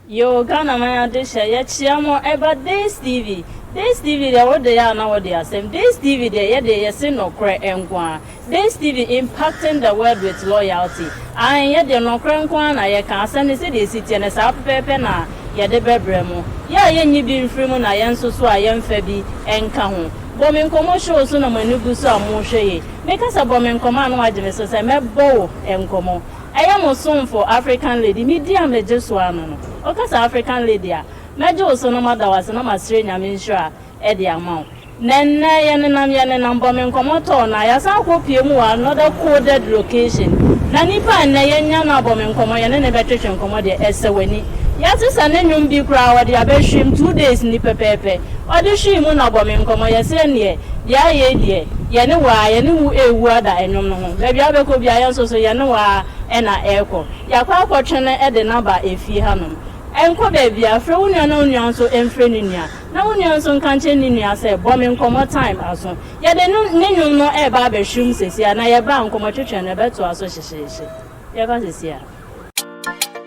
Yoo Ghana man adehyɛ yɛkyea mo ɛba Days TV Days TV deɛ wo de yɛ a na wo de asɛm Days TV deɛ yɛ deɛ yɛse nɔkorɛ nko ara Days TV impacting the world with loyalty aen yɛ deɛ nɔkorɛ nko ara na yɛka asɛm no sɛdeɛ ɛsi teɛ no saa pɛpɛɛpɛ na yɛde bɛbrɛ mo yɛ a yɛnyi bi mfiri mu na yɛn nso so a yɛnfa bi nka ho Bɔ me nkɔmmɔ show so na mo ani gu so a mo rehwɛ yei mekasa bɔ me nkɔmmɔ a na wagye me so sɛ mɛbɔ wo nkɔmmɔ Ɛyɛ mo somfo African lady, me din a megye so ara no no. Woka sɛ African lady a, mɛgye wo so na mada wo ase na masrɛ Nyame nhyira de ama wo. Na ɛnnɛ, yɛnenam yɛnenam, bɔ me nkɔmmɔ tɔɔ no a, yɛasan akɔpue mu wɔ another coded location. Na nipa a ɛnnɛ yɛanya no abɔ me nkɔmmɔ, yɛne no bɛtwetwe nkɔmmɔ deɛ, ɛsɛ w'ani. Yɛasesa ne nnwom bi koraa, ɔde abɛhwim, two days ni pɛpɛɛpɛ. Ɔde hwee mu na ɔbɔ me nkɔmmɔ, yɛse ɛnneɛ, deɛ ayɛ yi deɛ, yɛne wo a, yɛne wo rewu ada nnwom no ho. Baabi a wobɛkɔ biara, yɛn nso so yɛne wo ara na ɛrekɔ. Yɛakɔ akɔtwe no de no aba efie hanom. Nkɔ baabi a, frɛ wo nua na wo nua nso mfrɛ ne nua, na wo nua nso nka nkyerɛ ne nua sɛ, Bɔ me nkɔmmɔ time aso. Yɛde no ne nnwom no reba abɛhwim seesei a, na yɛba a nkɔmmɔtwetwe no bɛtoa so hyehyeehye. Yɛba seesei a.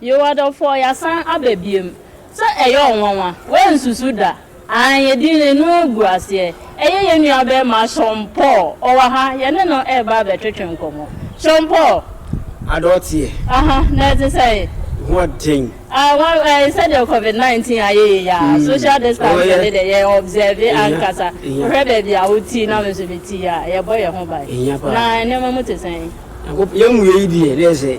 Yow ɔdɔfoɔ yɛasan aba biom. Sɛ ɛyɛ ɔnwanwa, woansusu da? Aane, yɛ din no, ɛno ara gu aseɛ. Ɛyɛ yɛn nuabarima Sean Paul, ɔwɔ ha, yɛne no reba abɛtwetwe nkɔmmɔ. Sean Paul. Adɔɔ teɛ. Aha, na ɛte sɛn? Wo ho aden. Ah, wa, eh, sɛdeɛ Covid 19 ayɛ yei a, mm. social distancing oh, ne deɛ yɛ observe ankasa. Wohwɛ baabi a wotie na me nso metie a, yɛbɔ yɛn ho ban. Na nneɛma mu te sɛn? Yɛn mu yɛ yi deɛ, na ɛsɛ.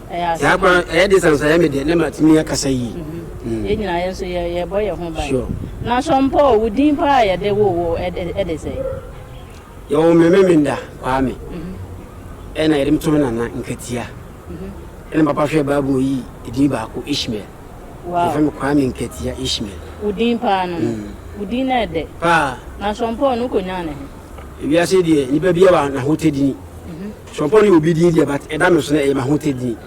Ɛyɛ asɛm. Saa kwan ɛyɛ distance ɛyɛ me deɛ na ma tumi akasa yie. Mhm. Yɛn nyinaa yɛn nso yɛ yɛbɔ yɛn ho ban. Sure. Na Sompɔɔ, wo din paa a yɛde woo wo ɛde ɛde sɛn? Yɛwɔ me Memenda Kwame ɛna yɛde me to me nana Nkatia. Ɛna papa hwɛ baa bɔ yi edin baako Ishmael. Wow. Yɛfrɛ me Kwame Nkatia Ishmael. Wo din paa no no. Wo din na ɛdɛ. Paa. Na Sompɔɔ no wokɔnyaa ne he? Ewiase deɛ nipa biara wɔ n'ahotadini. Soronko no yɛ obi din deɛ but ɛda me so na ɛyɛ m'ahotɛ din.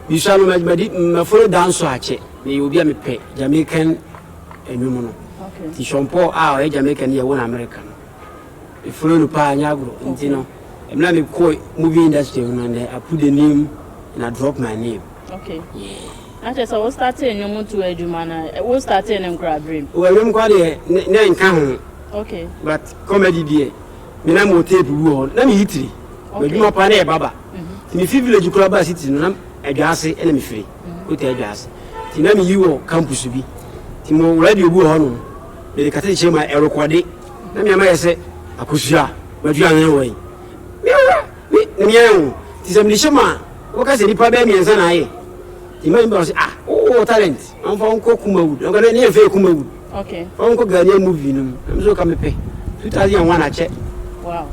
Mesua no mɛ mɛdi mɛ follow danso akyɛ. Meyɛ obi a mepɛ Jamaican nnwom no. Nti Sean Paul a ɔyɛ Jamaican no yɛwo no America no me follow no paa nyɛ agorɔ. Nti no ɛmɛ na mekɔ movie industry mu no ɛnɛ I put the name and I drop my name. Okay. Yeah. Na kyerɛ sɛ wo startee nnwom to adwuma no wo startee no nkora berɛ mu? Wɔ nnwom koraa deɛ na ɛnka ho. Okay. But comedy deɛ. me na mewɔ tape gu hɔ na meyi tiri m'adwuma pa na yɛ baba nti mefi village koraa baa city no na adwa ase na mefiri kota adwa ase nti na meyi wɔ campus bi nti mo radio bi wɔ hɔ nom mede kata kyekyɛ ma ɛrekɔde na meama yɛ sɛ akosua madua nwene wɔ yi mewura me ne meayɛ ho nti sɛ mede hyɛ mu a wɔka sɛ nnipa bɛɛ mmiɛnsa na ayɛ nti ma nipa sɛ ah wowɔ talent amfa nkɔ kuma wood ne yɛmfa yɛ kuma wood Okay. Ɔn kɔ Ghanaian movie no mu. Ɛm sɛ ɔka mepɛ. 2001 akyɛ. Wow.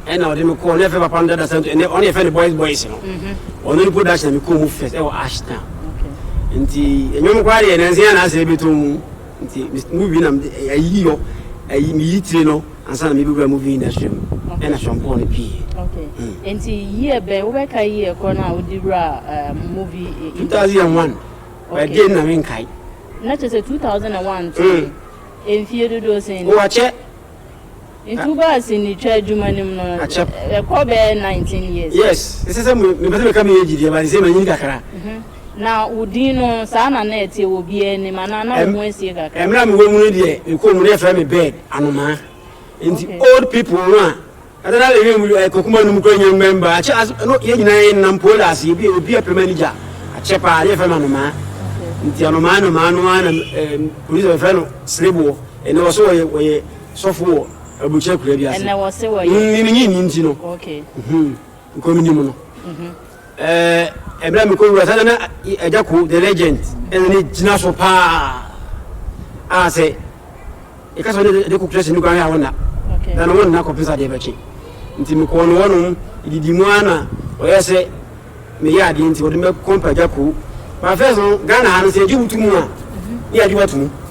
Ɛna ɔde me kɔɔ ne fɛ papa no dada santo ɛnɛ ɔne yɛfɛ ne boys boys no. Mm-hmm. Ɔno ne production na mekɔɔ mu first ɛwɔ Ashton. Okay. Nti ɛnwom koraa deɛ nansi yɛn anaasɛ ɛbɛtɔ mu. Nti movie na ayi yɔ ayi meyi tiri no ansa na mebɛwura movie industry mu. Okay. Ɛna Sean Paul no pii. Okay. Mm. Nti year bɛn wobɛka year korɔ no a wode wura uh, movie. 2001. Okay. Ɛdeɛ na menkae. Na kyɛ sɛ 2001 nto mm. ye. Mfie dodoɔ sɛn ni? O akyɛ. Nti wobaa asennitwa adwuma no mu no, Akyɛ. ɛkɔ bɛyɛ 19 years. Yes, ɛsɛ sɛ me- mepɛ sɛ meka meyɛ gyi deɛ but sɛ manyini kakra. Mhm. Na wo din no, saa na na ɛteɛ wɔ obiara anim anaa na wo Ɛm- ho asie kakra? Ɛmmerɛ a mewɔ mu no deɛ, mekɔɔ mu na yɛfrɛ me Bird, Anomaa. Nti Okay. old people no a Ada na Lewi mu eh, kokuma num kura nya mbɛmba akyɛ as no yɛ nyinaa yɛ nam pole ase ebi obi apem anigya akyɛ paa ne yɛfrɛ no anomaa nti anomaa anomaa no ara na eh, polisi yɛfrɛ no sereboɔ ɛnɛ wɔ so wɔyɛ wɔyɛ sɔfo wɔ aburukyɛ akura bi ase ɛnɛ wɔ se wɔyɛ mm, ne ne nyi nti no okay. mm, nkɔm nim no. Mm -hmm. Ɛɛ, bere a mikowui ase no na Agya Ko, The Legend, na n'agyina so paa a sɛ yɛka sɛ ɔne Agya Ko kyerɛ sɛ ne guan hwɛ a wonna, na no wonna kɔpem sɛ adeɛ bɛkye. Nti mekɔɔ no hɔnom, yɛdidi mu ara na ɔyɛ sɛ meyɛ adeɛ nti wɔde me kɔmpa Agya Ko. But first no, Ghana ha no sɛ yɛgye wo to mu a, ne yɛagye wo ato mu.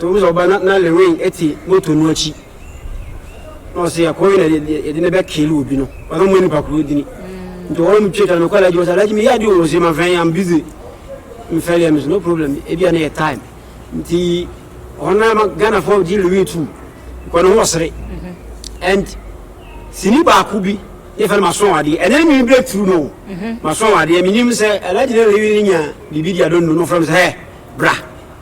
Ɔtɔn mu sɛ ɔba na na Lorraine ɛte motor no akyi na ɔsɛ yɛkɔ yi na yɛde ne bɛ kele obi no ɔno mu nipa kuro dini nti ɔwɔ mu twetwa no kɔ alagye ɔsɛ alagye mi yɛ adi ɔwɔ sɛ ma fɛn am busy mfɛle ɛmi so no problem ebi a na yɛ time nti ɔno ma Ghana fɔ di Lorraine tu kɔ ne ho ɔsere and sini baako bi ne fɛn ma sɔn adeɛ ɛnɛ mi break through no ma sɔn adeɛ mi nim sɛ alagye ne Lorraine nya biribi di adɔn no no fɛn sɛ hɛ bra.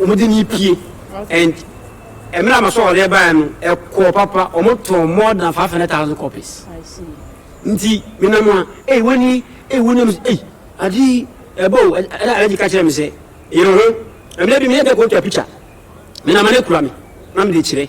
Wɔde me pue and mmerɛ a m'asoɔɔdeɛ baeɛ no ɛkɔɔ papa wɔtɔɔ more than five hundred thousand copies nti menam a ei wani ei wani ɛmu ei ade yi ɛbɔ o ɛna alaji ka kyerɛ me sɛ yere ho mmerɛ bi meyɛ dɛ kɔtwa picture menam a na kura me na mede kyerɛ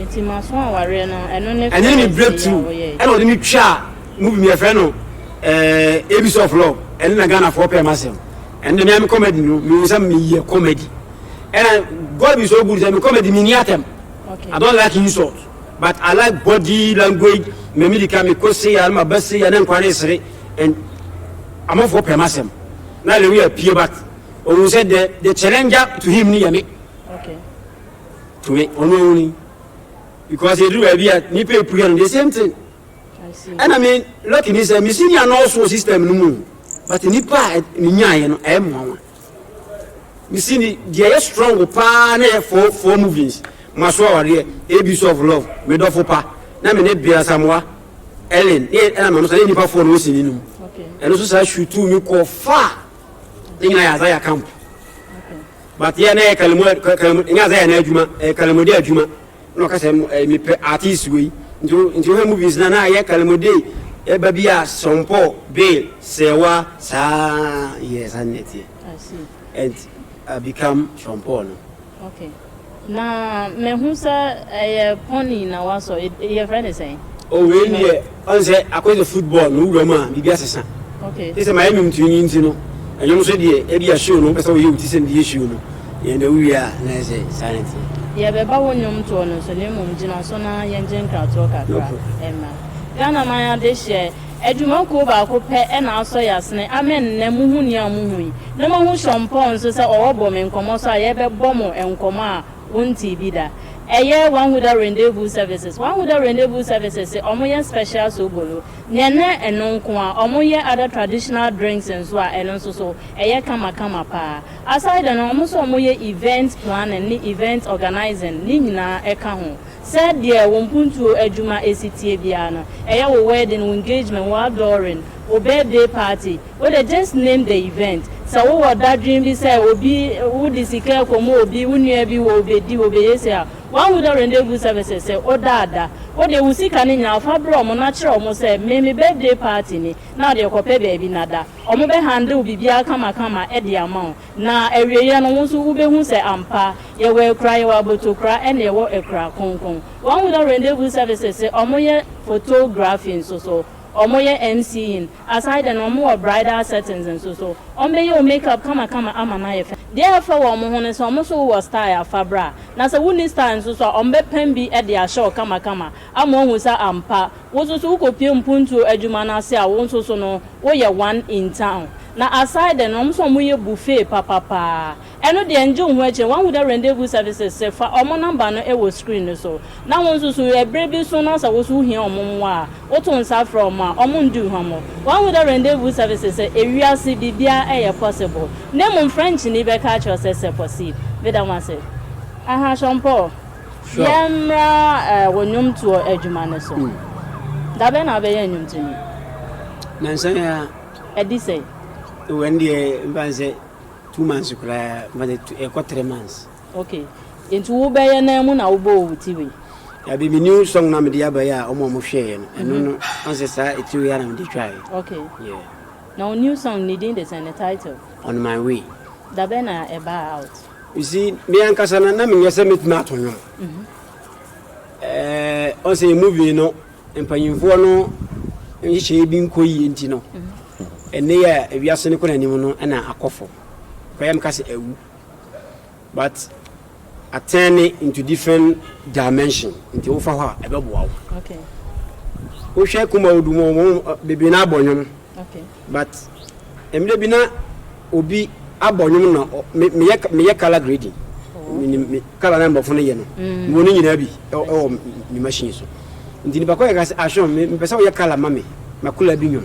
Nti maso awareɛ no ɛno ne Ɛnyɛ me breakthrough ɛna ɔde me twa movie mi ɛfɛ no ɛɛ Abuse of Love ɛne na Ghana foɔ pɛɛ ma sɛm ɛne de mea me comedy no mi sɛ me yɛ comedy ɛna God be so good sɛ me comedy mi ni atɛm I don't like insult but I like body language mɛmi di ka me ko se ya ma ba se ya ne nkwa ne sere and amanfoɔ pɛɛ ma sɛm na lewi apue but ɔwɔ sɛ the the challenger to him ni yɛ me. Okay. to me ɔno ɔno ni because yɛduru baabi a nipa epira no the same thing ɛna me lucky ni sɛ me senior nɔɔso wɔ system no mu but nipa a ne nyaayɛ no ɛyɛ mmoa wa me si ni deɛ yɛ strong paa na yɛ four four movies ma so awareɛ abuse of love me dɔfo pa na me ne bia samoa ellen ne ɛna mɛmo sɛ ne nipa four no wɔ si ni nom ɛno nso saa shutu mi kɔ faa ne nyinaa yɛ azaya camp. but yɛ na yɛ kalamu kalamu nya sɛ yɛ na adwuma ɛyɛ kalamode adwuma na ɔka sɛ eh, mepɛ artist wei nti nti wohwɛ movies na na yɛ kalamode ɛba bi a sɔmpɔ bill sɛwa saa yɛ sa nnɛteɛ and I become sɔmpɔ no okay. Na mahu sɛ ɛyɛ pony na wasɔ, yɛfrɛ no sɛn? O wei deɛ ɔn sɛ akɔyɛ football no wowura mu a biribi asesa. Okay. Te sɛ mayɛ memtoni nti no, ɛnwom nso deɛ ebi a show no wopɛ sɛ woyɛ wo ti sɛ mede yɛ show no, yɛn deɛ wowie a na ɛsɛ saa na ɛteɛ. Yɛbɛba wo nnwom toɔ no so na mmom gyina so na yɛngye nkratoɔ kakra mma. Ghanaman adehyeɛ. Adwumakuo baako pɛ na asɔ yasene amɛ nnɛ mo hu nea mo hu yi na mo ahu Sean Paul nso sɛ ɔwɔ bɔ me nkɔmɔ so a yɛ bɛ bɔ mo nkɔmɔ a wo ntee bi da ɛyɛ Wanhuda Rendezvous Services Wanhuda Rendezvous Services se ɔmo yɛ special soobolo nea ɛnɛ ɛno nkoa ɔmo yɛ other traditional drinks nso a ɛno nso so ɛyɛ kama kama paa aside ɛno ɔmo so ɔmo yɛ event planning ne event organising ne nyinaa ɛka ho. Sɛdeɛ wo mpuntuo adwuma si teɛ biara no, ɛyɛ wo wedding, wo engagement, wo outdooring, wo birthday party, wode just name the event, sɛ wowɔ dadwen bi sɛ obi, wode sika rekɔma obi, wo nua bi wɔ ɔbɛdi, ɔbɛyɛ sei a, wanhu the rendezvous services sɛ woda ada, wode wo sika no nyinaa fa brɛ wɔn na kyerɛ wɔn sɛ me me birthday party ni, na wode rekɔpɛ baabi na da. Wɔbɛ handle biribiara kamakama de ama wo. Na awieeɛ no, wo nso wobɛhu sɛ ampa, yɛwɔ akura, yɛwɔ abotokura ɛna yɛwɔ akura kronkron. Wahu dɛ Rendezvous Services se wɔyɛ photography nso so, wɔyɛ MCing, aside then wɔn wɔ bridal settings nso so. Wɔbɛyɛ wo make up kamakama ama no ayɛ fɛ. Deɛ ɛfɛ wɔ wɔn ho ne sɛ wɔn nso wowɔ style a fa bra, na sɛ wonni style nso so a wɔbɛpam bi de ahyɛ wo kamakama ama woahu sɛ ampa, Wo nso so wokɔpue mpuntuo adwuma no ase a wo nso so no woyɛ one in town. Na aside then wɔn nso wɔyɛ buffet papapaa. Ɛno deɛ ngye wo ho akyire woahu dɛ rendezvous services se fa wɔn number no wɔ screen no so na wo nso so ɛbere bi so na sɛ wo nso wohia wɔn mmoa a woto nsa frɛ wɔn a wɔn ndu hwammɔ. Woahu dɛ rendezvous services sɛ ewiase biribiara yɛ possible na mmom Frenchni bɛka akyerɛ wo sɛ c'est possible. Meda mo ase. Ahaa Sean Paul. Yɛmmra wo nnwomtoɔ adwuma no so. Da bɛn na wobɛyɛ nnwomtoni? Nansa yi ara. Ɛdi sɛn? Wɔ ɛno deɛ mfa n sɛ two months koraa mfa n sɛ ɛkɔ three months. Okay. Nti wobɛyɛ naa mu na wobɔɔ wo ti wei? Dabi, me new song no a mede aba yi a wɔn a wɔhwɛeɛ no, ɛno no fa n sɛ saa etire yi ara na mede twaeɛ. Okay. Yeah. Na wo new song no, ne din de sɛn, ne title? On my way. Da bɛn na ɛbaa out? You see, me ankasa no na menyɛ sɛ mɛtumi ato nnwom. Ɔn sɛ yɛ movie no mpanyimfoɔ no nhyehyɛeɛ bi nkɔ yie nti no ɛnne yɛ ewiase no kɔ n'anim no ɛna akɔ fam kɔyɛ mka sɛ awu but atɛne into different dimension nti wofa hɔ a ɛbɛboa wo wohwɛ kuma odu mu bebree no abɔ nnwom But mmerɛ bi na obi abɔ nwom na meyɛ meyɛ color grading menim me color na mbɔfo no yɛ no mewɔ ne nyinaa bi ɛwɔ me machine so nti nipa kɔ yɛ ka sɛ ahwɛm mepɛ sɛ woyɛ color ma me makula bi nwom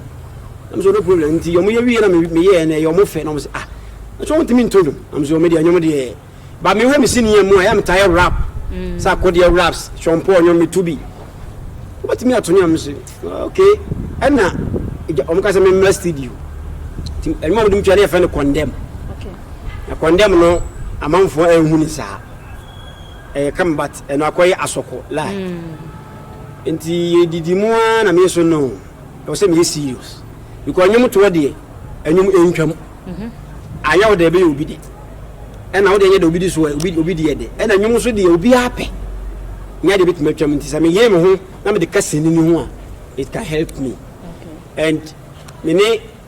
na mesɛ no problem nti ɔmo yɛ wieɛ na meyɛɛ no ɛyɛ ɔmo fɛ na ɔmo sɛ ah nso wontumi nto nwom na mesɛ ɔmo deɛ nwom deɛ But me hwɛ me senior mu a yɛ a me taa yɛ rap. Mm. Sɛ akɔdeɛ raps, Sean Paul nyɔm me to bi. Wobɛtumi ato nyɔm me se, okay. Ɛna, wɔn ka sɛ me mmra studio. Ti, ɛnum a wɔde me tua ne yɛfɛ no condemn. Okay. Na condemn no, amanfoɔ ɛnhu ne saa. Ɛyɛ kam but ɛno akɔyɛ asɔkɔ lie. Mm. Nti yɛdidi mu a na me so no. Ɛwɔ sɛ meyɛ serious because nnwom toɔ deɛ nnwom ɛntwam anyɛ wo dɛ ɛbɛyɛ obi de ɛna wo deɛ nyɛ dɛ obi de so obi obi deɛ de ɛna nnwom nso deɛ obi apɛ nyɛ deɛ bɛtumi atwam nti sɛ meyere me ho na mede ka sinini ho a it can help me and me ne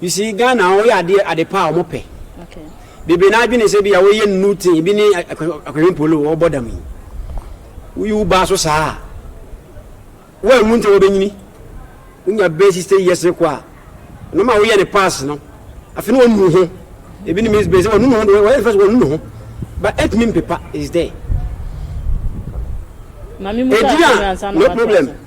You see Ghana a wɔyɛ adeɛ adepa a wɔpɛ. Bebree naa adwene sɛ bi a wɔyɛ new thing bi ne akɔhwɛ polo wɔbɔ dam yi. Woyi wo baa so saa a wɔn mu ntɛ wɔbɛnyini. Wonya bɛyɛ sixty years ne kɔ a nneɛma a woyɛ ne pass no afei na wɔnunu ho. Ebi ne means bɛyɛ sɛ wɔnunu ho de wɔyɛ fɛ sɛ wɔnunu ho but ɛtumi mpepa is there. Edina no problem.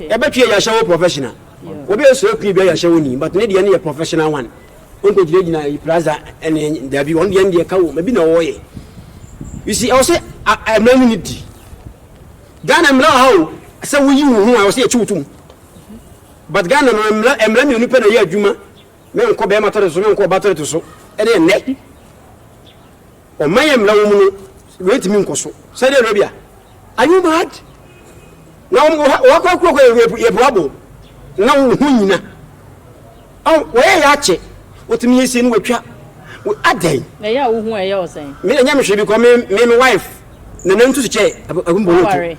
yɛbɛtwe yɛ ahyɛ wo professional obi a ɛsɔ akui bia yɛ ahyɛ wo ni but ne deɛ no yɛ professional one ɔnkɔgyinagyina yi plaza ɛne daabi wɔn deɛ no deɛ ka wɔ ebi na wɔyɛ you see ɛwɔ sɛ mmara no ne di Ghana mmara wɔ ha o sɛ woyi wo ho a ɛwɔ sɛ yɛkyi wo tom but Ghana no mmara mmara mmienu pɛ na ɛyɛ adwuma menkɔ bɛrima tɔre to so menkɔ ɔba tɔre to so ɛne ɛnɛ Ɔma yɛ mmara wɔ mu no wei tumi nkɔ so Saudi Arabia are you mad na wɔn wɔha wɔakɔ akura kɔ yɛ rape yɛ bra bɔ na wɔn ho nyina ɔn wɔyɛ yɛ akyɛ wɔtumi yɛ sie no wɔatwa wɔ adɛn Na ɛyɛ a wohu a ɛyɛ wo sɛn? me na nyɛ me hwɛ bi kɔ me me me wife na nantu so kyɛ abu abu mbɔ wɔtu Waware.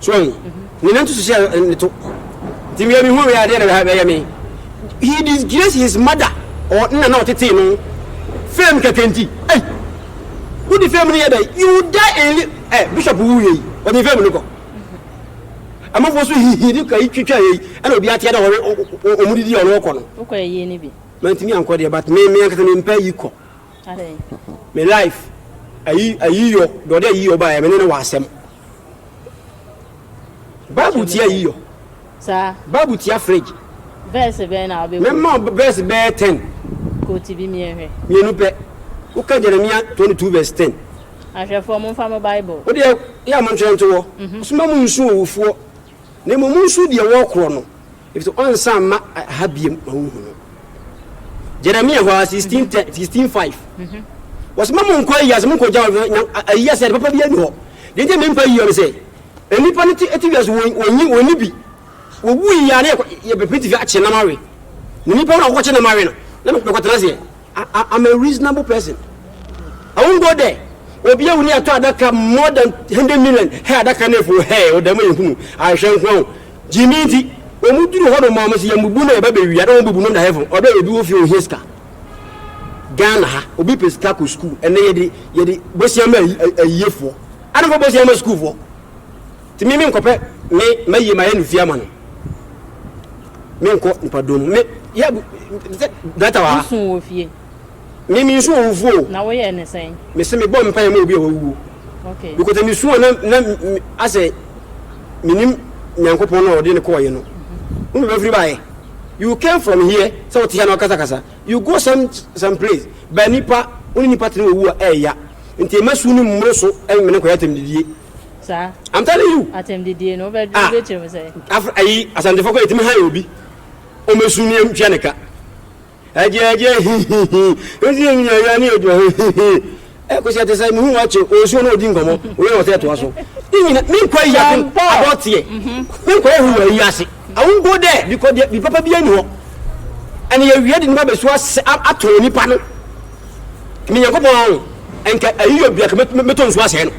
So ahu? Ne nantu so hyɛ ne to. Nti me a mehu wei adeɛ na ɛyɛ me. He disgraced his mother or nna na ɔtetee no. Fame kɛkɛ nti. Ei! Wode fame no yɛ dɛn? You die and live. Eh, bishop wu yɛ yi. Ɔde fame no kɔ. Amanfoɔ so hihi de kɔ yi twitwa yɛ yi. Ɛna obi ateɛ dɛ ɔre ɔmo didi ɔno ɔkɔ no. Wokɔ yɛ yie ne bi. Mantumi ankɔ deɛ but me me ankasa mempɛ ayi kɔ. Me life ayi ayi yɔ dɔde ayi yɔ baeɛ me ne no wɔ asɛm. Bible tia yi yɔ. Saa. Bible tia fridge. Verse bɛn na wobɛ. Mɛma verse bɛyɛ ten. Kooti bi mmiɛ hwɛ. Mmienu pɛ. Woka Jeremia twenty two verse ten. Ahwɛfoɔ monfa mo Bible. Wo deɛ yɛ a monkyerɛ nto hɔ. Ɔsoma mo nsu owufoɔ, na mmom monsu deɛ wɔkorɔ no. Efisɛ ɔrensan mma ha bio ma wonhu no. Jeremia hɔ ara, sixteen ten, sixteen five. Wɔsi ma mo nkɔ ayi ase, mo nkɔ gya hɔ, na ayi ase ade papa bi ani hɔ. Deɛ nti mi mpa yi yɔ no sɛ, nnipa no te te wiase wɔn wɔnyi wɔnni bi. Wɔwu yi ya ne yɛ yɛ bɛpiriti fi akye nam awe. Ne nipa wɔn akɔkye nam awe no, na bɛkɔ tena aseɛ. I am a reasonable person. I won't go there. Obi ewu ni ato adaka more than hundred million. Hɛ adaka ne fo hɛ o dɛm yɛ hunu. Ahwɛ nko o. Jimmy nti wɔn duru hɔ nom a wɔn si yɛn bubu na yɛba bɛwia na wɔn bubu no na heaven ɔdɔ yɛ bi wɔ fie ohia sika Ghana ha obi pɛ sika kɔ sukuu ɛnɛ yɛde yɛde bosiama ayiyefoɔ anafo bosiama sukuufoɔ Nti me menkɔpɛ me m'ayie m'ayɛ no fie ama no menkɔ nipa dɔm mu me yɛ sɛ data wɔ ha. Wo su wɔ fie. Me me nsu wɔ wo fuo. Na wo yɛ ne sɛn. Me se me bɔ mpa yɛ ma obi a wawuo. Okay. Because me su a na na asɛ me nim nyankopɔn no a ɔde ne kɔɔ yɛ no. Wo me bɛfiri baayɛ. You came from here sɛ wote ha na ɔkasa kasa. You go some some place ba nipa wo ne nipa tene wɔ wu a ɛɛya. Nti ɛma su no mmoro so ɛmene kɔyɛ atam didie. saa. I'm telling you. Atɛmdidie no wobɛ ah, wobɛkyerɛ mu sɛ. Afro ayi asantefo kɔ yɛtumi han obi ɔmɛsu ne ntwa ne ka ɛgye ɛgye hihihi ɛsi ɛnyinayira ne ɛdwa hihihi ɛkɔsi ɛte sɛ mehu wakye ɔnsuo na ɔdi nkɔmmɔ ɔyɛ na ɔsɛ ɛtoa so ne nyina menkɔ yi yɛte adɔteɛ menkɔ yɛ hunu ayi ase I won't go there because bi papa bi ani hɔ ɛne yɛwie de nipa bɛsu atɔn nipa no me Nyankopɔn, anka ayi yɛ obi anka mɛtɔ nsuo asɛe no.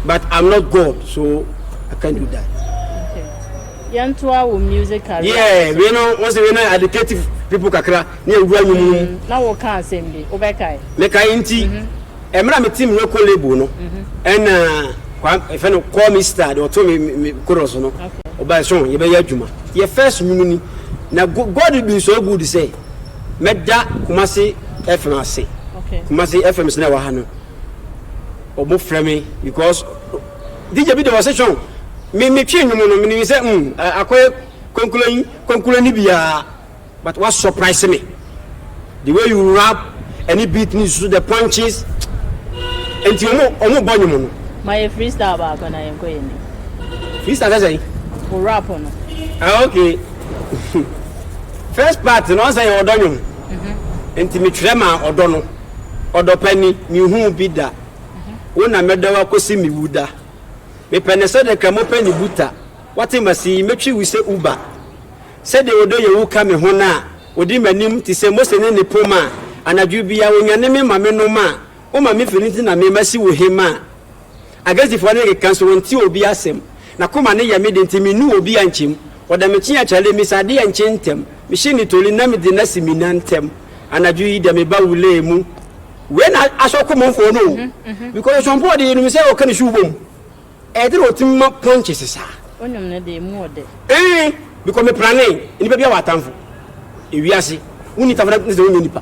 But I'm not God, so I can't do that. Okay. Yɛntoa wo music career. Yeah, we no, once we no educative people kakra, ne awura nyum no. Mm, na wo ka asɛm bi, wobɛkae. Mekae nti, ɛmra mhm. me team no kɔ label no. Mhm. Ɛna ɛfɛ no call me star de ɔto me korɔ so no. Ɔba ɛso yɛbɛyɛ adwuma. Yɛ first nwunu ni. Na God been so good sɛ mɛda Kumasi FM ase. Okay. Kumasi FM sɛ na ɛwɔ ha no. Ɔmo frɛ me because DJ bi de ɔse twɛn me me twe nnwom no menim sɛ mm akɔyɛ konkulenyi konkulenyi biara but wa surprise me the way you rap ɛne beat ne susu the punches nti ɔmo ɔmo bɔ nnwom no. Ma yɛ freestyle baako na yɛn kɔ yɛ ni. Freestyle sɛ sɛn? O rap no. Ah okay. First part no ɔnsɛ yɛ ɔdɔ nwom nti me twerɛ maa ɔdɔ no ɔdɔ pa ni me huu bi da wo na mɛdɔ wo akosi me wu da me pɛ ne sɛde kramo pɛ ne buta wate masi yi mɛtwi wu sɛ uba sɛde ɔdɔ yɛ wu ka me ho na ɔdi m'anim ti sɛ mose ne ne poma anadwo bia onyane me ma me nom a wo ma me firi nti na me masi wo he ma Agasifoɔ no keka nso wɔnte obi asɛm, na koma no yɛ me de nti mennu obi ankyem. Wɔda me kyen akyɛre dɛ misa adeɛ nkye ntɛm, mehye ne toli na mede no asi me nan ntam. Anadwo yi dɛ meba wo lane mu. Wei na asɔ kɔmɔnfoɔ no o because ɔsompɔɔ deɛ yɛnim sɛ ɔka ne shoe bom ɛyɛ dɛ na ɔtumi ma punches saa. Wonwom no deɛ emu ɔdɛ. Eeh because me planee nnipa biara wɔ atamfo ewiase wonni tamfo na sɛ wonyɛ nipa.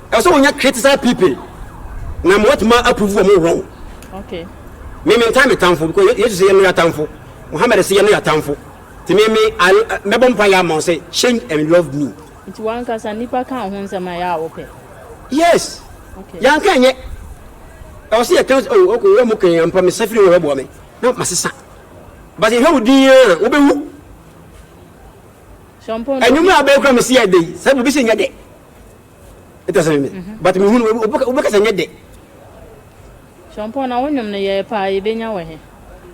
Ɛwɔ sɛ wonya critical people na ma watuma approve wɔn wrong. Okay. Me me ntaa me tamfo because Yesu sɛ yɛno yɛatamfo. Muhammad sɛ yɛno yɛatamfo. Nti me me mɛbɔ mpa yɛ ama wo sɛ change and love me. Nti wankasa nipa ka ho nsɛm a yɛ a wopɛ? Yes. Okay. Yɛanka nyɛ. Ɛwɔ sɛ yɛka sɛ oh okay yɛ mo kan ampa me safiri wɔ bɛboa me na masesa. But yɛhwɛ wo din a wobɛwu. Ɛnwom a bɛkura me si yɛ dɛ yi sɛ bobi sɛ nyɛ dɛ. Ɛtɔ sɛ me but me hu no obi bɛka sɛ nyɛ dɛ. Sompɔn na wo nwom no yɛɛ paa yɛ bɛnya wɔ he?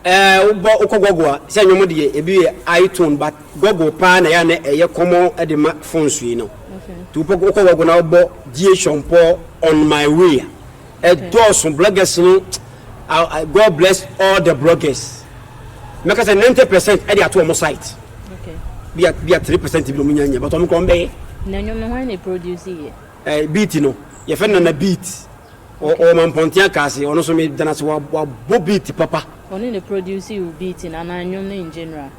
Ɛɛ wo bɔ wo kɔ Google a sɛ nwom deɛ ebi yɛ I tone but Google paa na ɛyɛ a na ɛyɛ common de ma phones yi no. Nti wo kɔ Google na wo bɔ Gye Sompɔn on my way a Ɛdɔɔso bloggers no God bless all the bloggers mɛka sɛ ninety percent ɛde ato ɔmo site bia bia three percent bi na ɔmo nya nya but ɔmo kɔ ɔmo bɛyɛ. na nnwom no hwan na produce yɛ. ɛɛ beat no yɛfɛ no nana beat ɔwɔ ma mpɔnten aka ase ɔno nso mi dana se wabɔ beat papa. ɔno na produce wo beat no anaa nnwom no in general.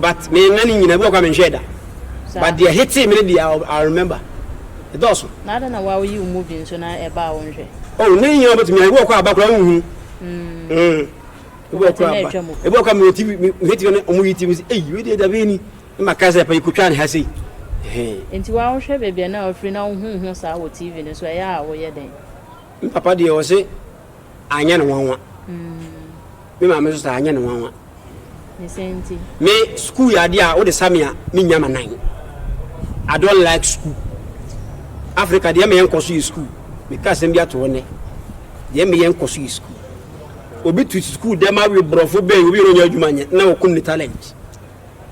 but me nna ne nyina bi wɔ kɔ a menhwɛɛ da but deɛ hetee me no deɛ I remember ɛdɔɔso. Na adɛn na wawo yi wo movie nso na ɛba a wonhwɛ? Oh ne nyina wobɛtumi ayɛ ebi wɔ kɔ a aba koraa wonhunu mm ebi wɔ kɔ a aba ebi wɔ kɔ a mewɔ TV mehwɛ TV no ɔmo yi TV sɛ eyi wei deɛ da bɛyɛ ni ne ma kaa sɛ pa yɛkɔtwaa ne ha sei ɛhɛn. Nti wo a wohwɛ baabi a na wofiri na wohu wo ho saa wɔ TV no so ɛyɛ a woyɛ dɛn? Me papa deɛ ɔse. anyɛ no nwanwa me maame nso saa anyɛ no nwanwa me sukuu yɛ adeɛ a wode sa me a menya ma nan i don't like school africa deɛ meyɛ nkɔ so yɛ sukuu meka asɛm bi ato hɔ nɛ deɛ meyɛ nkɔ so yɛ sukuu obi tu sukuu dɛm awe borɔfo bɛn obi yɛ no ɔnyɛ adwuma nyɛ na wɔkum ne talent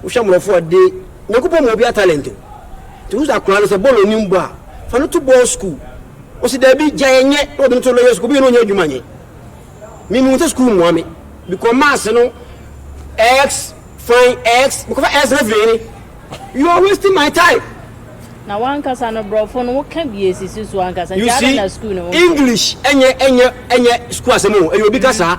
Wohwɛ mmorɔfo a de Nyankopɔn ma obi a talent o nti wo so akora no sɛ bɔɔl ɔnni mbɔ a fa no to bɔɔl school ɔse daabi gyae ɛnyɛ na wɔde no to lɔyɛ school ɔbɛyɛ no ɔnya adwuma nyɛ me mehu sɛ school mmoa me bikɔ mass no x fine x mekɔfa x na afiri hene you are wasting my time na wankasa no brɔfo no woka bi esisi so ankasa nti ada na school no english ɛnyɛ ɛnyɛ ɛnyɛ school asɛm o ɛyɛ obi kasa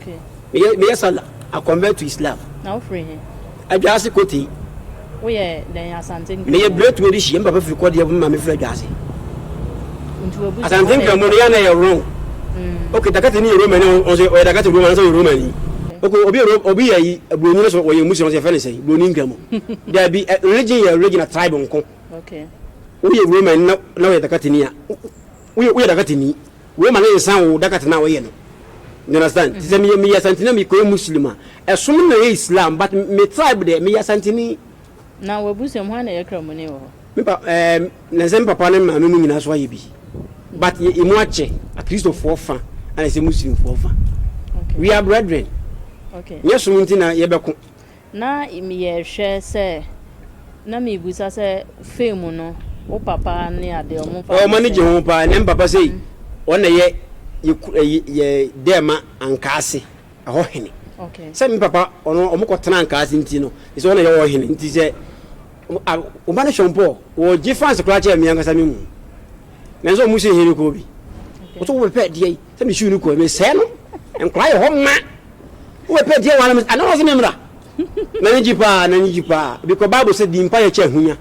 Okay. Me yɛ me yɛ sala. I convert to Islam. Na wo firi he? Adwaase Kotee. Wo yɛ dɛn Asante Nkramu? Me yɛ Bretuo de hyia. Me papa firi Kɔdeɛ me maame firi Adwaase. Nti wɔ busa. Asante Nkramu no yɛ ana yɛ wrong. Mm. Okay Dakate ni yɛ Roman ni wɔn sɛ ɔyɛ Dakate Roman ansa ɔyɛ Roman ni. Mm. Okay obi yɛ obi yɛ yi Broni na sɛ ɔyɛ Muslim wɔn sɛ yɛfɛ ne sɛ Broni Nkramu. Dabi religion yɛ religion na tribe nko. Okay. Wo yɛ Roman na na ɔyɛ Dakate ni a. Woyɛ woyɛ dakateni wei ma ne nsa wo dakate na wɔyɛ no you understand ti sɛ meyɛ meyɛ santini mi kɔyɛ muslim a ɛsom no na yɛ islam but me tribe dɛ meyɛ santini. na w'abusua mu hwan na ɛyɛ kramoni wɔ hɔ. me pa ɛɛ na sɛ me papa ne maame mu nyinaa so ayɛ bi but yɛ emu akyɛ akristofoɔ fa ana sɛ muslimfoɔ fa okay we are brethren okay nyɛ som nti na yɛbɛko. Na meyɛ hwɛ sɛ na mebisa sɛ fame no wo papa ne ade ɔmo mfa ho sɛ. Ɔmo ani gye ho paa na me papa sei ɔno na ɛyɛ yɛ dɛɛma ankaase ɛhɔ hene sɛ me papa ɔno ɔmo kɔ tena ankaase nti no sɛ ɔno na ɛyɛ hɔ hene nti sɛ ɔba no Seanpaul wɔ gye fans koraa kyɛɛ me ankasa me mu nanso ɔmo se hene kɔ bi ɔso wo papa ɛdeɛn. sɛ me shoe no kɔ mesɛɛ no nkora yɛ hɔ ma wobɛpɛ deɛ wala ana wɔ sɛ memmra n'ani gye paa n'ani gye paa bikɔ bible sɛ di mpa yɛ kyɛ ahonya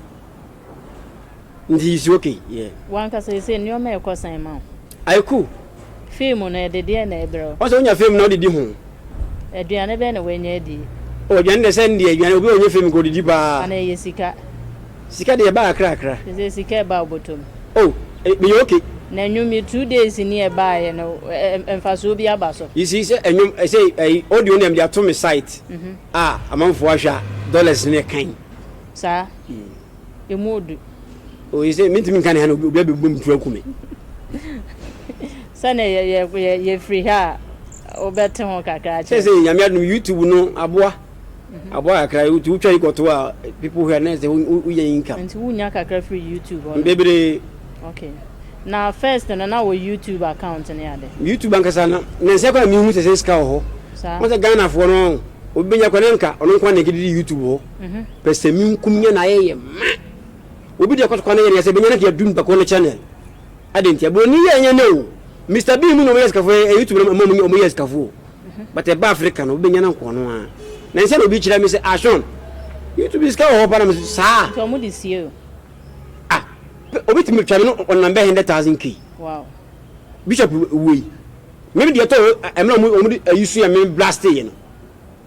nti si okay yeah wankasa sɛ nneɛma ɛkɔ san ma wo ayɛ cool fame no ɛde deɛ na ɛbrɛ wo ɔsɛ wonya fame na wode di ho aduane bɛɛ na wanya adie o aduane dɛ sɛ ndeɛ aduane obi a ɔnyɛ fame nka ɔde di paa ana ɛyɛ sika Sika deɛ ɛba akra akra. Te sɛ sika a ɛba wo bɔtɔ mu. Oh, eh, meyɛ okay. Na nnwom yi, two days ni a ɛbaeɛ no, ɛ-ɛ-ɛ mfasoɔ bi aba so? You see, sɛ nnwom, ɛsɛ yi, ɛyi, audio no deɛ mede ato me site a amanfoɔ ahwɛ a, dollars no ɛkan. Saa? Ɛmu odu. Oh, you see, mentumi nka ne ha na obi, obi abɛbɔ me tu aku me. Sɛdeɛ yɛ, yɛ, yɛ, yɛfiri ha a, wobɛte ho kakra akyerɛ. Seesei, Nyame adom, YouTube no aboa. aboa kakra nti wotwa yi kɔto a people hwɛ na ɛsɛ wonya income. nti wonya kakra firi youtube hɔ no. bebree. okay na first no na wɔ youtube account ne ade. youtube ankasa na na nsɛ kɔ a mehu sɛ sɛ sika wɔ hɔ wɔn sɛ ghanafoɔ no ɔn obi bɛnya kɔ na nka ɔno nko a na ɛkɛdidi youtube hɔ mhm. pɛ sɛ me nkum nya na ayɛ yɛ ma obi deɛ kɔtokɔ no yɛ ne yɛ sɛ bɛnya no kɛ yɛdu nipa kɔ no channel ade nti aburoni yɛ ɛnyɛ ne o mr bean mu na ɔmo yɛ sikafoɔ yɛ youtube na ɔmo yɛ sikafoɔ but ɛba Africa no wobɛnya no nkoano aa. Nɛnsɛ na obi kyerɛ me sɛ ah Shawn, YouTube sika wɔ hɔ pa na mese saa? Nti ɔmo de sie o. Ah, obi tumi twa me no ɔnam bɛ hundred thousand key. Wow. Bishop wuo yi, me deɛ tɔ ɛmla ɔmo ɔmo de ayi sua me blast yɛ no,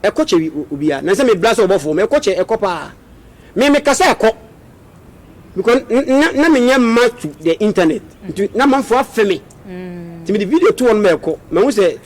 ɛkɔ kyɛ wi obia, nɛnsɛ me blast ɔbɔfoɔ me ɛkɔ kyɛ ɛkɔ paa, me me kasa ɛkɔ, because na na me nyɛ ma to the internet, nti na manfoɔ afe me, nti me de video to wɔn ma ɛkɔ, mahu sɛ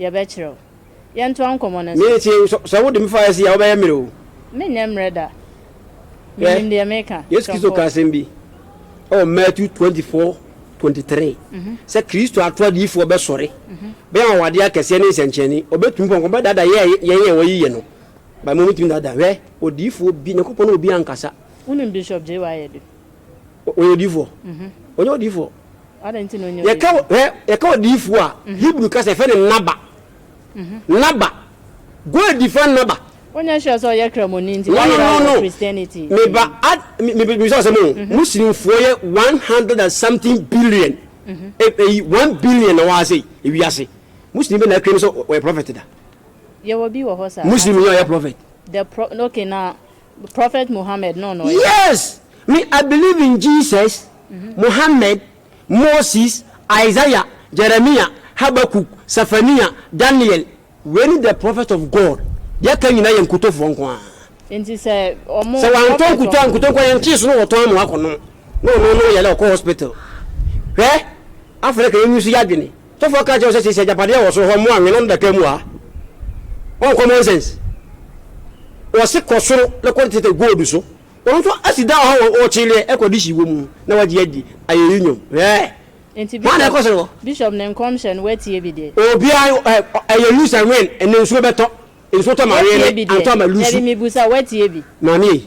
Yɛbɛkyerɛ wo. Yɛntoa nkɔmmɔ no so. Metie wo. Sɛ wode me fa asi a, wobɛyɛ mmerɛw. Merenyɛ mmerɛw da. Hwɛ, Minim deɛ mereka. Yesu Kristo Twɔnfɔɔ. kaa asɛm bi wɔ Matthew twenty four twenty three sɛ Kristo ato adiyifoɔ bɛsɔre, bɛyɛ anwanwadeɛ akɛseɛ ne nsɛnkyerɛnne. Wɔbɛtumi pɔnkɔ, wɔbɛdaadaa yɛ a yɛn a wɔyi yɛn no, but mo montumi nnaadaa. Hwɛ, odiyifoɔ bi, Nyankopɔn ne obi ankasa. Wonim Bishop J. Y. Adu? Ɔyɛ odiyifoɔ? Ɔnyɛ odiyifoɔ. Yɛka odiyifoɔ a, Hebrew kasa yɛfrɛ no naba. Naba. Go and defend naba. Wonyɛ sure sɛ ɔyɛ kramoni nti wayera wɔ Christianity. Meba mebisa asɛm o. Muslimfoɔ yɛ one hundred and something billion. Eyi one billion na wɔn ase ewiase. Muslim bɛ na ɛkura mu sɛ ɔyɛ prophet da. Yɛwɔ bi wɔ hɔ saa. Muslim yɛ ɔyɛ prophet. The pro okay na. Prophet Muhammad no no ɔyɛ. Yes me I believe in Jesus, Muhammad, Moses, Isaiah, Jeremiah, Habakkuk, Sephaniah, Daniel. Wei ne the prophet of God deɛ aka nyinaa yɛ nkutofoɔ nko ara. Nti sɛ ɔmo. Sɛ wantɔ nkuto a nkuto nko ara yɛnkyee so na wɔtɔn ama wo akɔnom na ɔnom na woyare a ɔkɔ hospital. Hwɛ afei na ka yɛnwusu yɛadwene. Tɔfoɔ kaa kyerɛɛ wo sɛ siesie agyapadeɛ wɔ ɔsoro hɔ mmoa nwe no nnaka mu aa wɔn kɔ mɔnsɛns wɔse kɔ soro na kɔ tete gold so wɔn nso asi daa hɔ wɔ ɔkyeleɛ ɛkɔ de hyi wɔ mu na wagye adi ayɛyi nwom hwɛɛ Nti hwan na bishop ɛkɔ soro hɔ bishop ne nkɔmhyɛ no watie bi deɛ. Obia ɛyɛ loose and when ɛnɛ nsuo bɛtɔ nsuo tɔ ma wee Watie me bi deɛ? antɔ ma lusu Dabi mebusa watie bi. Maame ei.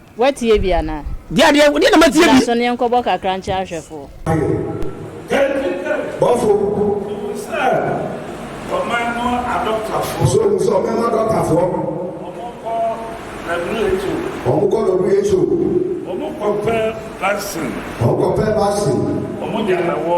Woatie bi anaa? Deɛ adeɛ, wodeɛ na matie bi. Bra so ne yɛnkɔbɔ kakra nkyɛ ahwɛfoɔ. Bɔfo, menim sɛ ɔman no adɔktafoɔ. So wonim sɛ ɔman no adɔktafoɔ no. Wɔkɔ WHO. Wɔkɔ WHO. Wɔkɔpɛ vaccine. Wɔkɔpɛ vaccine. Wɔde awɔ.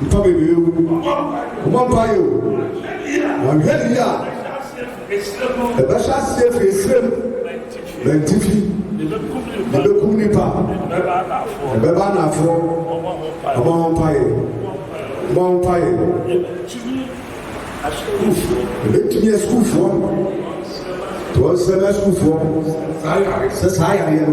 Nnipa bebree wu. Wɔbɔ mpaeɛ o. Wɔhwɛ ne yie a, ɛbɛhyɛ aseɛ firi esrem na ntifi na ɛbɛkum nipa. Ɛbɛba anaafoɔ. Wɔbɔ ho mpaeɛ. Wɔbɔ ho mpaeɛ. Ɛbɛtumi asukuufoɔ. Wɔn nsɛm asukuufoɔ. Sɛ saa yareɛ no.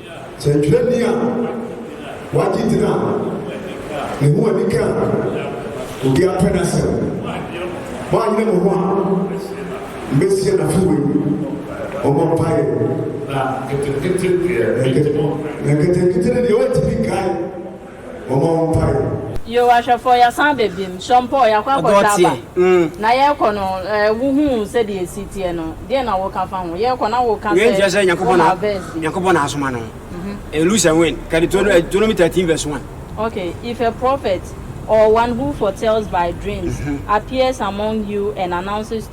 Sɛnkyerɛnne a wagye din a ne ho adi ka a obi apɛ n'asɛm. Moanyere mo ho a, mbesie n'afe wei mu. Mommɔ mpaeɛ. Na nketenkete deɛ, ɔntumi nkae. Wɔma wo mpaeɛ. Yoo ahwɛfoɔ yɛasan aba biom. Sompɔɔ yɛakɔ akɔhwɛ aba. Na yɛrekɔ no wohuu sɛdeɛ ɛsi teɛ no deɛn na woka fa ho? Yɛrekɔ na woka sɛ wo harvest. Nyankopɔn na asoma no. And lose and win ka Deuteronomy thirteen verse one. Ok if a prophet or one who foretells by dreams appears among you and announces to.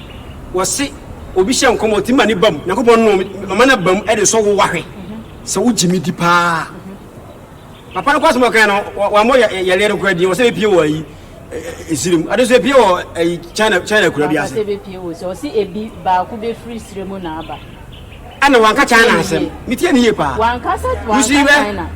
Wɔse obi hyɛ nkɔm a ɔtumi ma ne ba mu. Nyankopɔn no ɔma no ba mu de sɔ wo wahwɛ sɛ wogye me di paa. Papa no kɔ asɛm ɔkan no wammɔ yɛreɛ no kora din ɔsɛ bɛpie wɔ ayi ɛsire mu. Ade nso ɛpie wɔ ayi China China kura bi ase. Ɔsɛ bɛpie wɔ sɛ ɔsɛ ebi baako bɛfiri sire mu na aba. Ɛna wanka China asɛm. Metie ne yie paa. Wanka sɛ wanka China.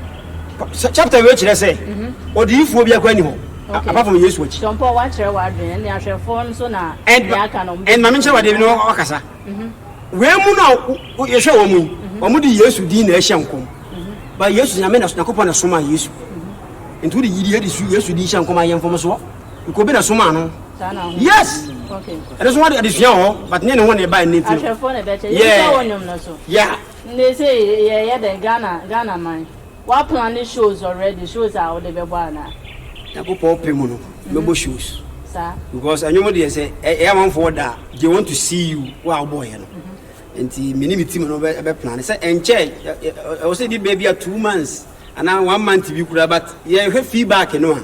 Wosii chapter wei kyerɛ sɛ mhm. odiyifoɔ bi akora ni hɔ. Okay. Apart from Yesu akyi. Sɔmpɔ wakyerɛ w'adwene ɛne ahwɛfoɔ nso na deɛ aka no. Ɛn maame nkyɛn wadeɛ bi na wakasa. Mhm. Wei mu na yɛhwɛ wɔn mu yi. Mhm. Wɔn de Yesu din na ɛhyɛ nkɔm. Ba Yesu nyame na nakopɔ na soma Yesu. Nti wode yidie de Yesu din hyɛ nkɔm ayɛ mfomsoɔ. nka obi na somaa no yes ɛno so wade adesua wɔ hɔ but nyɛ ne ho ne ɛbaa ne ti no yeah ne se yɛyɛ dɛn ghana ghana man waplane shows already shows a wode bɛbɔ anaa nyankopɔn pɛ mu no mɛbɔ mhm. shows saa because ɛnwom deɛ sɛ ɛyɛ amanfoɔ da they want to see you wo a wobɔɔyɛ no mhm. nti mene me team no bɛplane sɛ ɛnkyɛ ɛwɔ sɛ bi baabi a two months anaa one month bi kura but yɛhwɛ feedback no a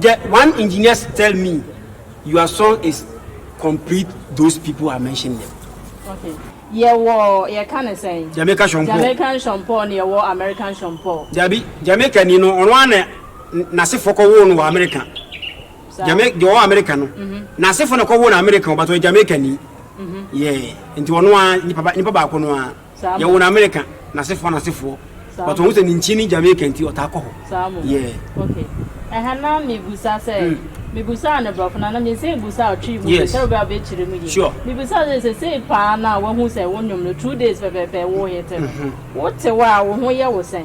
The one engineers tell me your song is complete those people are mention them. Okay. Yɛwɔ yɛka ne sɛn? Jamaica Sean Paul. Jamaican Sean Paul ne yɛwɔ American Sean Paul. Dabi, Jamaica ni no ɔno ara na n'asefo kɔwoo no wɔ America. Jamaica deɛ ɔwɔ America no, mhm. n'asefo na kɔwoo no America, but ɔyɛ Jamaica ni. Mhm. Yeah, nti ɔno ara nipa baako no ara. Yɛwoo no Amerika, n'asefoɔ n'asefoɔ. But wɔn sɛ ne nkyi ne Jamaica nti ɔtaa kɔ hɔ. Yeah. Okay. Ɛhɛ na mebusa sɛ mm. mebusa a ne borɔfo no na mesɛ busa a ɔtwe mu yes. sɛ wobɛa wobɛkyerɛ mu yie sure. mebusa sɛ sɛ sei paa no a woahu sɛ wo nnwom no two days pɛpɛpɛ wo hete no mm-hmm. wote wo a wo ho yɛ wo sɛn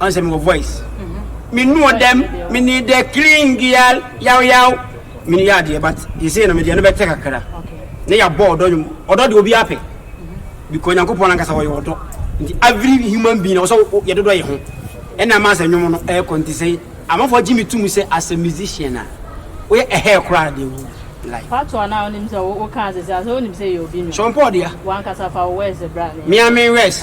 ɔn sɛ mewɔ voice me nuo dɛm me ne dɛ clean girl yaw yaw me ne yɛ adeɛ but yɛsei no medeɛ no bɛtɛ kakra ne yɛabɔ ɔdɔ nwom ɔdɔ de obi apɛ because nyankopɔn ankasa wɔyɛ ɔdɔ nti every human being ɔsɛ yɛdodɔ yɛ ho ɛna ma sɛ nwom no ɛkɔ nti sɛ amafoɔ gye me tom sɛ as a musician a woyɛ ɛhɛɛ koraa deɛ wu like pato anaa onim sɛ wo ka asɛ sɛ asɛ onim sɛ yɛ obi no sɔmpɔ ɔdea wankasa fa wo wɛs bra ne mea me wɛs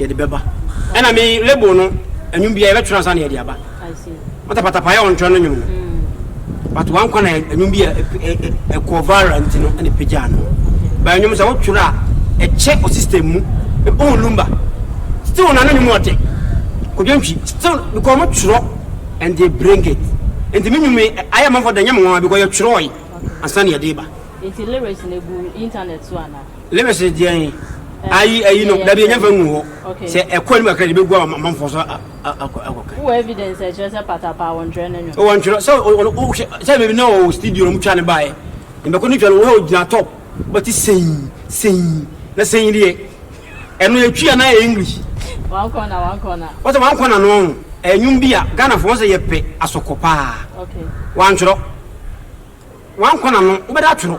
yɛde bɛba ɛna me label no anwum biara yɛbɛtwerɛ ansa na yɛde aba matapatapaeɛ ɔntwerɛ no nwom no mm. but wankwa na anwum bi ɛkɔ viral nti no ɛne pagyaa no ba anwum sɛ wotwerɛ a ɛkyɛ o system mu ɔhu lumba still na no nwom ɔte kodwantwi still because motwerɛ and they bring it nti me nwum ayɛ mamfɔ dɛ nyɛ me nwanwa because yɛtwerɛe ansa na yɛde ba nti lyrics na egu internet so ana Lewis ne deɛ yi ayi ayi no dabi ɛnyɛ nfa ngu hɔ sɛ ɛkɔ anim kakra de bɛgu amanfoɔ so akɔka. wowɔ evidence a ɛkyerɛ sɛ patapaa wɔntwerɛ no nwom wɔ ntwerɛ sɛ wohwɛ sɛ baabi na ɔwɔ studio no motwa ne baeɛ mbɛkɔ no twa no wohɛ ɔgyina top wobɛte sɛi sɛi na sɛi deɛ ɛno yɛtwi a na yɛ english wankɔna wankɔna wɔsɛ wankɔna no ɔho ɛnwom bi a ghanafoɔ sɛ yɛpɛ asɔkɔ paa wantwerɛ wankɔna no wobɛda atwerɛ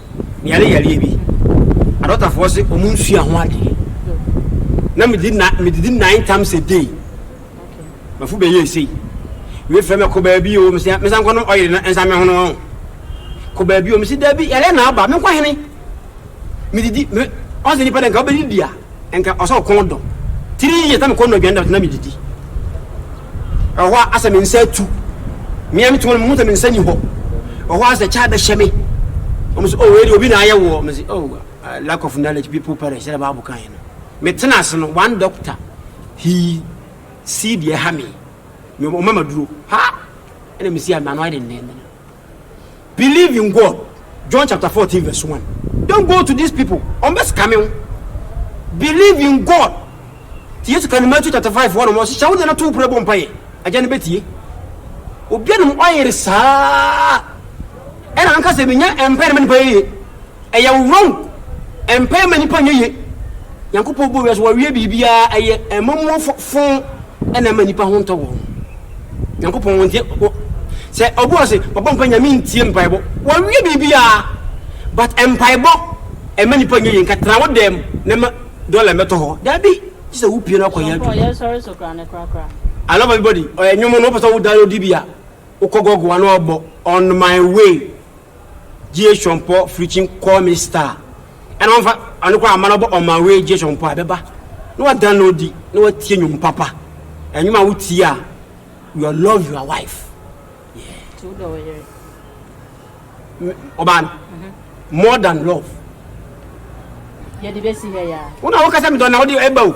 meyare yareɛ bi adɔtafoɔ se ɔmo nsua ho adeɛ na medidi na medidi nine times a day mafu bɛyɛ esei wei fɛ mɛ kɔ baabi o mesia mesa nkɔ no ɔyere no nsa me hono ɔho kɔ baabi o mesi daabi yareɛ na aba menkɔ hene medidi me ɔnse nipa dɛ nka wobɛdidi a Nka ɔsɛ ɔkɔn dɔ three years na me kɔn no aduane da na me didi ɛwɔ hɔ a asɛ me nsa atu mmea me tuma no mu sɛ me nsa ni hɔ ɛwɔ hɔ asɛ kyaa bɛhyɛ me wɔn sɛ oh ɛdi obi na ayɛ wɔ wɔn sɛ oh uh, lack of knowledge people perish sɛ baabu kan yɛ no me tena ase no one doctor he see deɛ ɛha me me ɔma ma duro ha ɛna me si ama no ayɛ dendenden Believe in God John chapter fourteen verse one don't go to these people wɔn bɛ scam wo believe in God ti Yesu kan Matthew chapter five wɔn wɔn hyehyɛ wo deɛ na to pere bɔ mpa yɛ agya no bɛ tie obi anum ɔyere saa ɛna anka sɛ menya mpɛ na mɛ nipa yɛ yɛ. Ɛyɛ wo wrong ɛmpae ma nipa nyɛ ye Nyankopɔn bɔ wiase wawie biribiaa ɛyɛ ɛmamuo fo fo na ɛma nipa ho ntɔ wɔn Nyankopɔn wɔn tie wɔ sɛ obi wɔ se wabɔ mpa nyame ntie mpaebɔ wawie biribiaa but ɛmpaebɔ ɛma nipa nyɛ ye nka tra wo dɛm na ma dollar mɛtɔ hɔ daabi gye sɛ wo pie na wakɔ yɛ adwuma. Nyankopɔn yɛ sɔre so kra ne kra kra. I love everybody ɔyɛ nwom no wopɛ sɛ wo download bi a wokɔ google ano ɔbɔ on my way. Gyesɔmpɔ frikyin kɔɔ me star ɛna ɔmfa ɔno koraa ama no bɔ ɔma wei Gyesɔmpɔ a bɛba na wadan na odi na watie nnwom papa ɛnwom a wotie a you love your wife yeah ɔbaa no mhm. more than love yɛde bɛsi hɛ ya wona wokasa medɔ na wode ɛba o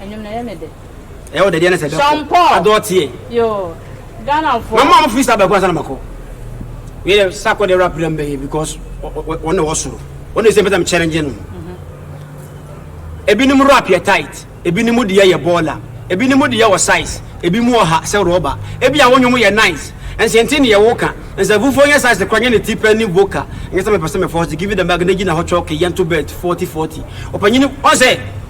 Ɛnwom na ɛyɛ me dɛ. Ɛyɛ wo dɛdeɛ ne sɛ bɛkɔ adɔ tie. Yoo Ghana fo. Mama mo freestyle bɛkɔ asana makɔ. Wei dɛ sakɔ dɛ rap dɛm bɛyɛ because wɔn na wɔsoro. Wɔn na ɛsɛ mpɛsɛ me challenge no. Ebinom rap yɛ tight, ebinom deɛ yɛ baller, ebinom deɛ wɔ size, ebi mu ɔha sɛ rɔba. Ebi a wo nwom yɛ nice, ɛnsɛ nti neɛ wo ka. Ɛnsɛ fufuo nyɛ size kora nyɛ ne ti pɛ ne vocal. Ɛnyɛ sɛ mepɛ sɛ me force, give it the mic na gyina hɔ chalky yɛnto bet forty forty. Ɔpanyini ɔn sɛ.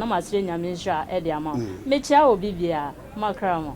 na maserɛ Nyame nhyira de ama wo. Mekyea obi biara, makra mo.